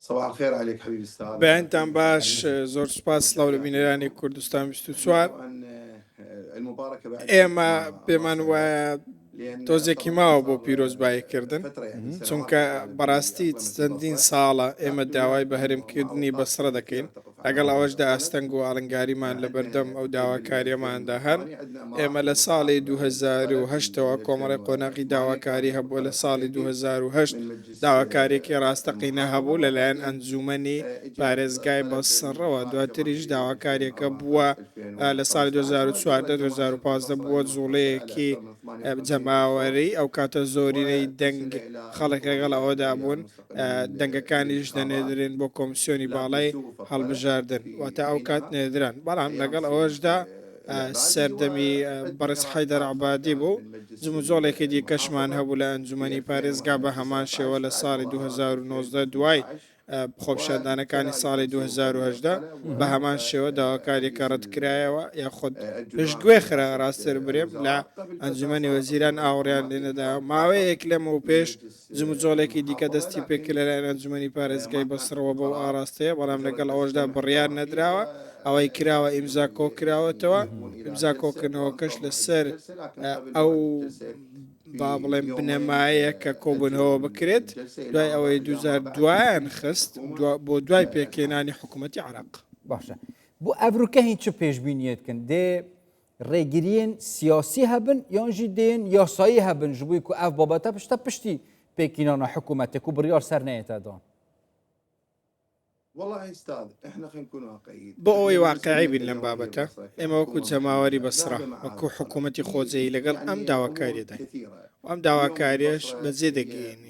صباح الخير عليك حبيبي استاذ بەیانتان باش زۆر سوپاس سلااو لە بینەرانی کوردستان 24 ئێمە پێمان وایە تۆزێکی ماوە بۆ پیرۆزباییکردن چونکە بەڕاستی چەندین ساڵە ئێمە داوای بە هەرمکردنی بەسرە دەکەین لەگەڵ ئەوەشدا ئاستەنگ و ئاڵنگاریمان لە بەردەم ئەو داواکارییەماندا هەن. ئێمە لە ساڵی دوو هەزار و هەشت ەوە کۆمەڵێ قۆناغی داواکاری هەبووە، لە ساڵی دوو هەزار و هەشت داواکارییەکی ڕاستەقینە هەبوو لە لایەن ئەنجوومەنی پارێزگای بەسڕەوە، دواتریش داواکارییەکە بووە لە ساڵی دوو هەزار و چواردە، دوو هەزار و پازدە بووە جووڵەیەکی جەماوەری، ئەو کاتە زۆرینەی دەنگ خەڵک لەگەڵ ئەوەدا بوون. دەنگەکانیش دەنێدرێن بۆ کۆمسیۆنی باڵای هەڵبژاردن واتە ئەو کات نێدران بەڵام لەگەڵ ئەوەشدا سەردەمی بەڕێز حیدەر عبادی بوو جموجۆڵێکی دیکەشمان هەبوو لە ئەنجومی پارێزگا بە هەمان شێوە لە ساڵی 2009 دوای خۆپشاندانەکانی ساڵی 2010 بە هەمان شێوە داواکاریەکە ڕەتکرایەوە یا خۆت پشتگوێ خرا ڕاستتر برێم لە ئەنجومی وەزیران ئاوڕیان لێنەدا ماوەیەک لەم و پێش جموجۆڵێکی دیکە دەستی پێ کرد لەلایەن ئەنجومەنی پارێزگای بەسڕەوە بەو ئاڕاستەیە، بەڵام لەگەڵ ئەوەشدا بڕیار نەدراوە، ئەوەی کراوە ئیمزا کۆکراوەتەوە، ئیمزا کۆکردنەوەکەش لەسەر ئەو با بڵێن بنەمایەیە کە کۆبوونەوە بکرێت، دوای ئەوەی دووجار دوایان خست بۆ دوای پێکهێنانی حکوومەتی عێراق. باشە بۆ ئەڤروکە هین چ پێشبینیەتکن دێ ڕێگریین سیاسی هەبن یان ژی دێن یاسایی هەبن ژ بووی کو ئەف بابەتە پشتە پشتی پێکینانە حکوومەتێک و بڕیار سەر نەیەتە دان. بۆ ئەوەی واقعی بین لەم بابەتە، ئێمە وەکو جەماوەری بەسڕە وەکو حکوومەتی خۆجێی لەگەڵ ئەم داواکاریەداین و ئەم داواکاریەش بەجێ دەگەیەنین.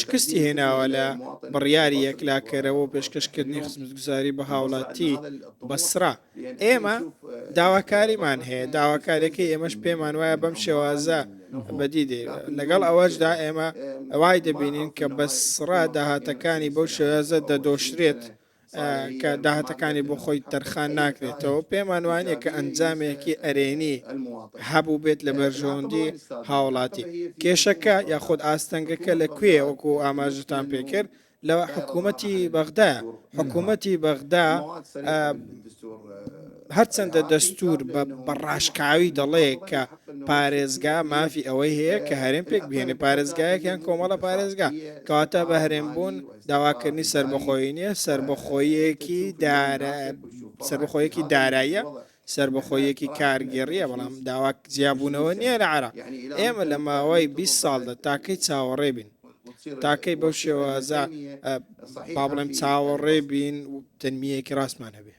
شکستی هێناوە لە بڕیاری یەکلاکەرەوە و پێشکەشکردنی خزمەتگوزاری بە هاوڵاتی بەسرا ئێمە داواکاریمان هەیە داواکاریەکەی ئێمەش پێمان وایە بەم شێوازە بەدی دێ لەگەڵ ئەوەشدا ئێمە ئەوای دەبینین کە بەسرا داهاتەکانی بەو شێوازە دەدۆشرێت کە داهاتەکانی بۆ خۆی تەرخان ناکرێتەوە پێمان وانە کە ئەنجامێکی ئەرێنی هەبوو بێت لە بەرژەوەندی هاوڵاتی کێشەکە یاخود ئاستەنگەکە لە کوێ وەکو ئاماژتان پێکرد لە حکوومەتی بەغدا حکوومەتی بەغدا هەرچەندە دەستوور بە بە ڕاشکاوی دەڵێ کە پارێزگا مافی ئەوەی هەیە کە هەرێم پێک بهێنێ پارێزگایەک یان کۆمەڵە پارێزگا کەواتە بە هەرێم بوون داواکردنی سربەخۆیی نییە سربەخۆیەکی دارە سربەخۆیەکی داراییە سربەخۆیەکی کارگێڕیە بەڵام داواک جیابوونەوە نییە لە عراق ئێمە لە ماوەی 20 ساڵدا تاکەی چاوەڕێ بین تاکەی بەو شێوازە با بڵێم چاوەڕێ بین تەنمیەکی ڕاستمان هەبێ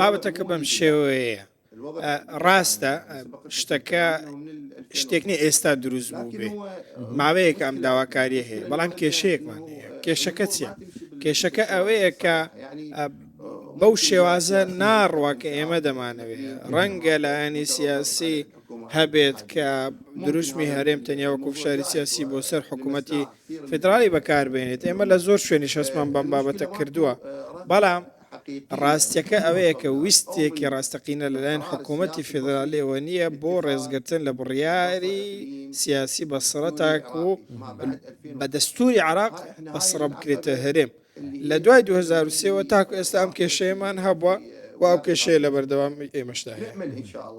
بابەتەکە بەم شێوەیە ڕاستە شتەکە شتێک نیە ئێستا دروست بوو بێ ماوەیەک ئەم داواکاریە هەیە بەڵام کێشەیەکمان کێشەکە چیە کێشەکە ئەوەیە کە بەو شێوازە ناڕوە کە ئێمە دەمانەوێت ڕەنگە لایەنی سیاسی هەبێت کە دروشمی هەرێم تەنیا وەکو فشاری سیاسی بۆ سەر حکوومەتی فیدراڵی بەکاربهێنێت، ئێمە لە زۆر شوێنیش هەستمان بەم بابەتە کردووە، بەڵام ڕاستییەکە ئەوەیە کە ویستێکی ڕاستەقینە لەلایەن حکوومەتی فیدراڵیەوە نییە بۆ ڕێزگرتن لە بڕیاری سیاسی بەسڕە تاکوو بە دەستووری عێراق بەسڕە بکرێتە هەرێم. لە دوای دوو هەزار و سێ وە تاکو ئێستا ئەم کێشەیەمان هەبووە و ئەو کێشەیە لە بەردەوام ئێمەشدا هەیە.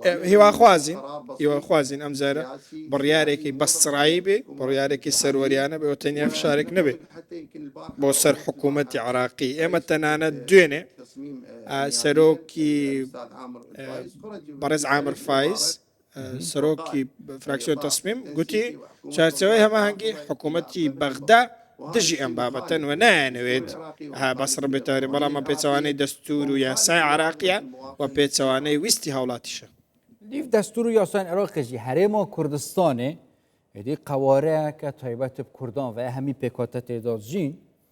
ئێ، هیواخوازین هیواخوازین ئەم جارە بڕیارێکی بەستڕایی بێ بڕیارێکی سەروەریانە بێ و تەنیا فشارێک نەبێ بۆ سەر حکوومەتی عراقی ئێمە تەنانەت دوێنێ ئا، سەرۆکی ئا، بەڕێز عامر فایز سەرۆکی فراکسیۆن تەسمیم گوتی چارچەوەی هەماهەنگی حکوومەتی بەغدا دژی ئەم بابەتەن و نایەنەوێت ها بەسڕ بێتاری بەڵامە پێچوانەی دەستور و یاسای عراقیە و پێچوانەی ویستی هاوڵاتیشە لیف دەستور و یاسان عراقێکی هەرێمە کوردستانێ دی قوارەیە کە تایبەت کوردان و هەمی پێکاتە تێدازین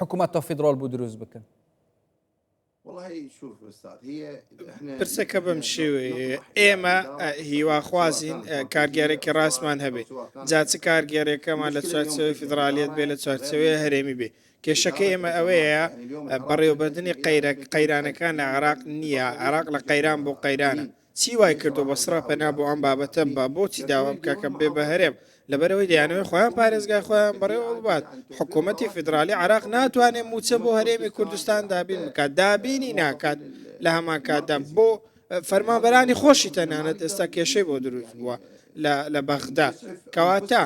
حکومەت تۆ فیدرۆل بوو دروست بکن پرسەکە بەم شێوێ ئێمە هیواخوازین کارگەرێکی ڕاستمان هەبێت جا چ کارگەرێکەمان لە چوارچەوەی فیدراالیت بێ لە چوارچەوەی هەرێمی بێ کێشەکە ئێمە ئەوەیە بەڕێوەبردننی قەیرانەکان لە عراق نییە عراق لە قەیران بۆ قەیرانە چی وای کردوە بەسڕە پەنا بۆ ئەم بابەتە ببا بۆچی داوا بکا کە ببێ بە هەرێم لەبەرئەوەی دەیانەوێ خۆیان پارێزگای خۆیان بەڕێوە ببات حکومەتی فیدڕالی عێراق ناتوانێ موچە بۆ هەرێمی کوردستان دابین بکات دابینی ناکات لە هەمان کاتدا بۆ فەرمانبەرانی خۆشی تەنانەت ئێستا کێشەی بۆ دروست بووە لە بەغدا کەواتە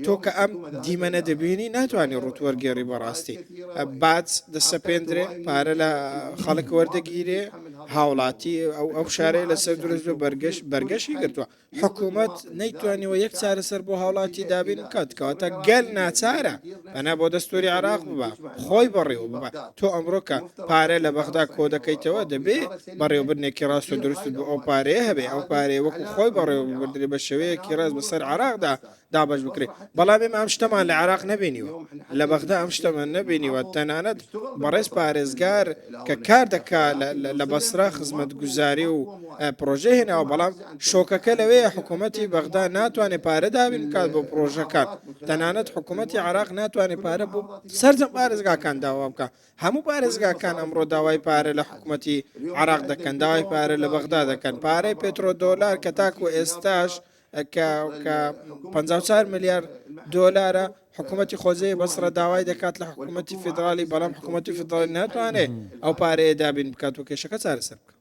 تۆ کە ئەم دیمەنە دەبینی ناتوانانی ڕووت وەرگێڕی بەڕاستی باج دەسەپێندرێ پارە لە خەڵک وەردەگیرێ هاوڵاتی ئەو ئەو شارەیە لەسەر درست بە بەرگەش بەرگەشی گرتووە حکوومەت نەیتوانیەوە یەک چارەسەر بۆ هاوڵاتی دابین بکات کەواتە گەل ناچارە پەنا بۆ دەستوری عێراق ببە خۆی بەڕێوە ببە تۆ ئەمڕۆ کە پارە لە بەغدا کۆ دەکەیتەوە دەبێ بەڕێوبردنێکی ڕاست و دروست بۆ ئەو پارەیە هەبێ ئەو پارەیە وەکو خۆی بەڕێوە ببردرێ بە شێوەیەکی ڕاست بەسەر عێراقدا دابش بکرێت بەڵام ئێمە ئەم شتەمان لە عێراق نبینیوە لە بەغدا ئەم شتەمان نبینیوە تەنانەت بەڕێز پارێزگار کە کار دەکا لە بەسرا خزمەت گوزاری و پرۆژه هێناوە بەڵام شۆکەکە لەوەیە حکوومەتتی بەغدا ناتوانێت پارەدابین بکات بۆ پرۆژەکان تەنانەت حکوومەتی عراق ناتوانێت پارە بۆ سەرجەم پارێزگاکان داوا بکە هەموو پارێزگاکان ئەمڕۆ داوای پارە لە حکوومەتی عراق دەکەن داوای پارە لە بەغدا دەکەن پارەی پێترۆ دۆلار کە تاکو ئێستاش کە 54 ملیار دۆلارە حکوومەتی خۆزەیە بەسرە داوای دەکات لە حکوومەتی فیدراالی بەڵام حکوومەتی فیدراالی ناتوانێت ئەو پارەیە دابین بکات و کێشەکە چارەسەر بکە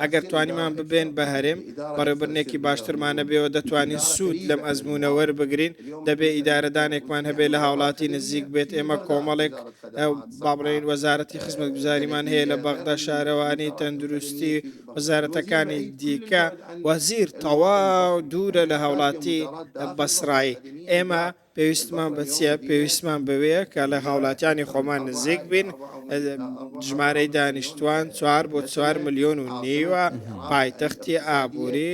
ئەگەر توانیمان ببێین بە هەرێم، بەڕێوبردنێکی باشترمان نەبێەوە دەتوانین سوود لەم ئەزموونە وەربگرین، دەبێ ئیدارەدانێکمان هەبێ لە هاوڵاتی نزیک بێت، ئێمە کۆمەڵێک با بڵێین وەزارەتی خزمەتگوزاریمان هەیە لە بەغدا، شارەوانی، تەندروستی، وەزارەتەکانی دیکە. وەزیر، تەواو دوورە لە هاوڵاتی بەسڕایی، ئێمە. پێویستمان بە چیە؟ پێویستمان بەوەیە کە لە هاوڵاتیانی خۆمان نزیک بین، ژمارەی دانیشتوان چوار بۆ چوار ملیۆن و نیوە، پایتەختی ئابووری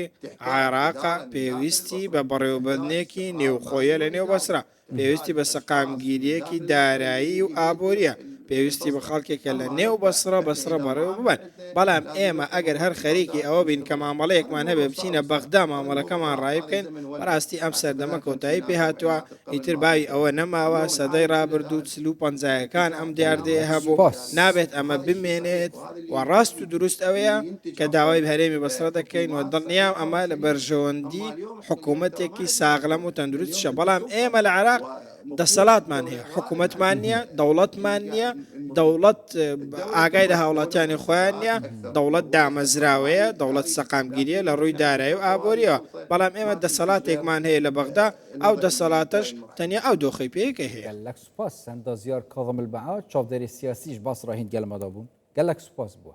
عێراقە، پێویستی بە بەڕێوەبردنێکی نێوخۆیە لە نێو بەسرە، پێویستی بە سەقامگیرییەکی دارایی و ئابوورییە، پێویستی بە خەڵکێکە لە نێو بەسرە بەسرە بەڕێوە ببەن. بەڵام ئێمە ئەگەر هەر خەریکی ئەوە بین کە مامەڵەیەکمان هەبێت بچینە بەغدا مامەڵەکەمان ڕایی بکەین، بەڕاستی ئەم سەردەمە کۆتایی پێ هاتووە، ئیتر باوی ئەوە نەماوە، سەدەی ڕابردوو چل و پەنجایەکان ئەم دیاردەیە هەبوو، نابێت ئەمە بمێنێت و ڕاست و دروست ئەوەیە کە داوای هەرێمی بەسڕە دەکەین و دڵنیام ئەمە لە بەرژەوەندی حکوومەتێکی ساغلەم و تەندروستیشە، بەڵام ئێمە لە عێراق دەسەلاتمان هەیە حکوومەتمان نییە دەوڵەتمان نییە دەوڵەت ئاگای لە هاوڵاتیانی خۆیان نییە دەوڵەت دامەزراوەیە دەوڵەت سەقامگیریە لە ڕووی دارای و ئابووریەوە بەڵام ئێمە دەسەلاتێکمان هەیە لە بەغدا ئەو دەسەڵاتەش تەنیا ئەو دۆخی پێیکە هەیە لەک سوپاس سەندا زیار کاظم البعا چاودێری سیاسیش باس ڕاهین گەلمەدا بوون گەلەک سوپاس بووە